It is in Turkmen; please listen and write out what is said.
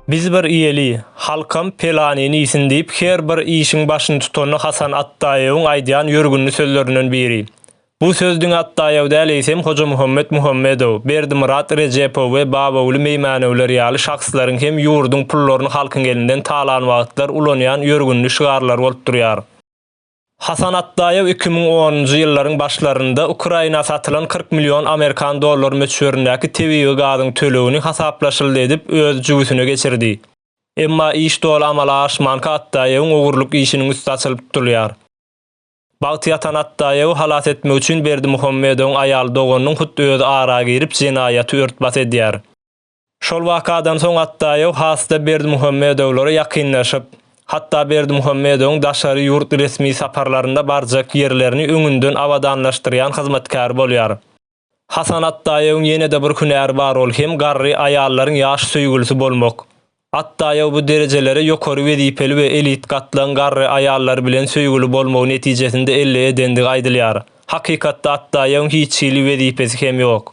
Biz bir iýeli, halkam pelanyny iýsin diýip her bir işiň başyny tutany Hasan Atdaýewiň aýdýan ýörgünli sözlerinden biri. Bu söz diňe Atdaýew däl eýsem Hojamuhammet Muhammedow, Berdimyrat Rejepow we Babaguly Meýmänewler ýaly şahslaryň hem ýurduň pullaryny halkyň elinden talan wagtlar ulanýan ýörgünli şygarlary bolup durýar. Hasan Atdaýew iki müň onunjy ýyllaryň başlarynda Ukraina satylan kyrk million amerikan dollary möçberindäki tebigy gazyň tölegini hasaplaşyldy edip öz jübüsine geçirdi. Emma iş doly amala aşmanka Atdaýewiň ogurlyk işiniň üsti açylyp tutulýar. Bagty ýatan Atdaýewi halas etmek üçin Berdimuhammedowyň aýal doganynyň hut özi ara girip jenaýaty ört-bas edýär. Şol wakadan soň Atdaýew has-da Berdimuhamedowlara ýakynlaşyp, hatda Berdimuhamedowyň daşary ýurt resmi saparlarynda barjak ýerlerini öňünden abadanlaşdyrýan hyzmatkäri bolýar. Hasan Atdaýewiň ýene-de bir hünäri bar ol hem garry aýallaryň ýaş söýgülisi bolmak. Atdaýew bu derejelere ýokary wezipeli we elit gatlagyň garry aýallary bilen söýgüli bolmagy netijesinde elli edendigi aýdylýar. Hakykatda Atdaýewiň hiç hili wezipesi hem ýok.